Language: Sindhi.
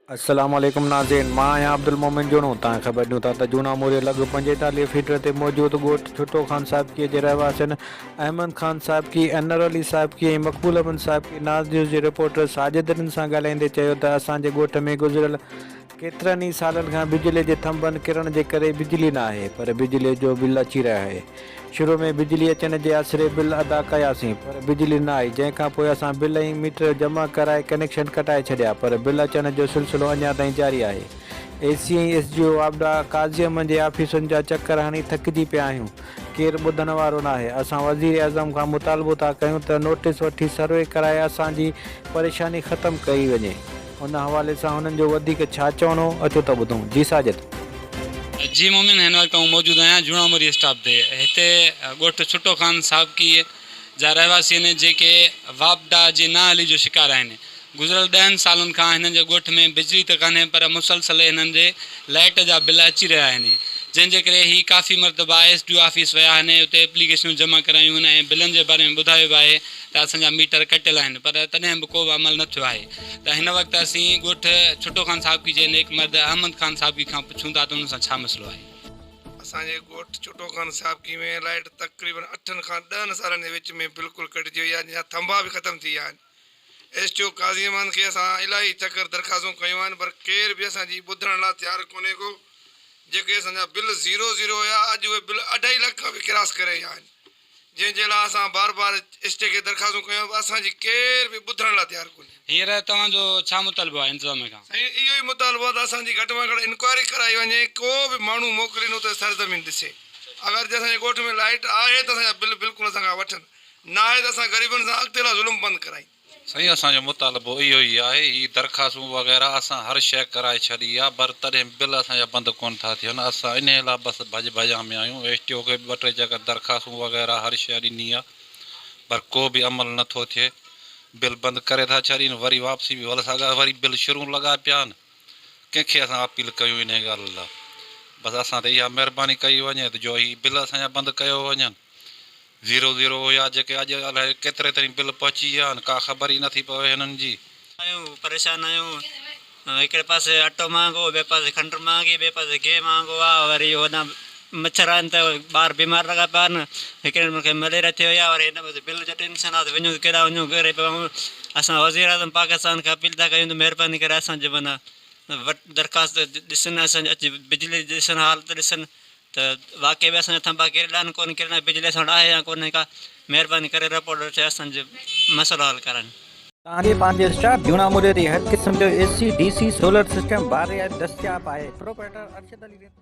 السلام عليڪم ناظرين مان آهيان عبدالمومن جوڻو توهان خبر ڏيون ٿا ته جوڻا موري لڳ پنجيتاليهه فيٽر تي موجود ڳوٺ ٺٽو خان صاحبڪي جي رهواسين احمد خان صاحبڪي انور علي صاحبڪي ۽ مقبول احمد صاحبڪي ناز نيوز جي رپورٽر ساجد رند سان ڳالهائيندي چيو ته اسان جي ڳوٺ ۾ گذريل ڪيترن ئي سالن کان بجلي جي ٿنڀن ڪرڻ جي ڪري بجلي نه آهي پر بجلي جو بل اچي رهي آهي. شروع ۾ بجلي اچڻ جي آسري بل ادا ڪياسين پر بجلي نه آئي جنهن کانپوء اسان بل ۽ ميٽر جمع ڪرائي ڪنيڪشن ڪٽائي ڇڏيا پر بل اچڻ جو سلسلو اڃا تائين جاري آهي. اي سي ۽ ايس جي او واپڊا قاضي احمد جي آفيسن جا چڪر هڻي ٿڪجي پيا آهيون ڪير ٻڌڻ وارو ناهي اسان وزيراعظم کان مطالبو ٿا ڪيون ته نوٽيس وٺي سروي ڪرائي اسان جي پريشاني ختم ڪئي وڃي. ان حوالي سان هنن جو وڌيڪ ڇا چوڻو، اچو ته ٻڌون. جي ساجد. جي مومن، هن وقت آئون موجود آهيان جوڻا مري اسٽاپ تي. هتي ڳوٺ ڇٽو خان سابقي جا رهواسي آهن جيڪي واپڊا جي نااهلي جو شڪار آهن. گذريل ڏهن سالن کان هنن جي ڳوٺ ۾ بجلي ته ڪانهي پر مسلسل هنن جي لائيٽ جا بل اچي رهيا آهن جنهن جي ڪري هي ڪافي مرتبا ايس ڊي او آفيس ويا آهن اتي ايپليڪيشنون جمع ڪرايون آهن ۽ بلن جي باري ۾ ٻڌايو به آهي ته اسان جا ميٽر ڪٽيل آهن پر تڏهن به ڪو به عمل نه ٿيو آهي ته هن وقت اسين ڳوٺ ڇٽو خان صاحبڪي جي نيڪ مرد احمد خان صاحبڪي کان پڇون ٿا ته انهن سان ڇا مسئلو آهي. اسان جي ڳوٺ ڇٽو خان صاحبڪي ۾ لائيٽ تقريبن اٺن کان ڏهن سالن جي وچ ۾ بلڪل ڪٽجي وئي آهي جا ٿنڀا به ختم ٿي ويا آهن ايس ٽي او قاضي امان کي اسان الائي چڪر درخواستون ڪيون آهن پر ڪير به اسان جي ٻڌڻ لا تيار ڪونهي ڪو جيڪي اسان جا بل زيرو زيرو هيا اڄ اهي بل اڍائي لک کان به ڪراس ڪري ويا آهن جنهن جي لاء اسان بار بار ايس ٽي کي درخواستون ڪيون پر اسان جي ڪير به ٻڌڻ لاء تيار ڪونهي. هينئر توهان جو ڇا مطالبو آهي انتظاميه کان؟ سائين اهو ئي مطالبو آهي ته اسان جي گهٽ مان گهٽ انڪوائري ڪرائي وڃي ڪو به ماڻهو موڪلين اتي سرزمين ڏسي اگر جي اسان جي ڳوٺ ۾ لائيٽ آهي ته اسان جا بل بلڪل اسان کان وٺن ناهي ته اسان غريبن سان اڳتي لاء ظلم بند ڪرائين. سائين اسان جو مطالبو اهو ئي آهي هي درخواستون وغيره اسان هر شيء ڪرائي ڇڏي آ پر تڏهن به بل اسان جا بند ڪونه ٿا ٿين اسان انهي لا بس ڀڄ ڀڄان ۾ آهيون ايس ٽي او کي به ٻه ٽي چڪر درخواستون وغيره هر شيء ڏني آ پر ڪو به عمل نه ٿو ٿئي بل بند ڪري ٿا ڇڏين وري واپسي به ولساڳا وري بل شرون لڳا پيا آهن ڪنهن کي اسان اپيل ڪيون انهي ڳالهه لا بس اسان تي اها مهرباني ڪئي وڃي ته جو هي بل اسان جا بند ڪيو وڃن. زيرو زيرو هيا جيڪي اڄ الائي ڪيتري تائين بل پهچي ويا آهن ڪا خبر ئي نٿي پوي هنن جي. آهيون پريشان آهيون هڪڙي پاسي اٽو مهانگو ٻئي پاسي کنڊ مهانگي ٻئي پاسي گيهه مهانگو آ وري هوڏان مڇر آهن ته ٻار بيمار لڳا پيا آهن هڪڙي نمبر کي مليريا ٿي وئي آ وري هن پاسي بل جو ٽينشن آ ته وڃون ته ڪيڏا وڃون غريب ماڻهو اسان وزير اعظم پاڪستان کي اپيل ٿا ڪيون ته مهرباني ڪري اسان جي معنيٰ وٽ درخواست ڏسن اسان جي اچي بجلي جي ڏسن حالت ڏسن ته واقعي به اسان جا ٿنڀا ڪيرڙا آهن ڪون ڪيرڙا آهن بجلي ساڻ آهي يا ڪونهي ڪا مهرباني ڪري رپورٽر ٿي اسان جو مسئلو حل ڪرن. تانجي پانجي اسٽاف جوڻا موري تي هر قسم جو A C D C solar system باري آهي دستياب آهي پروپريٽر ارشد علي ريتو.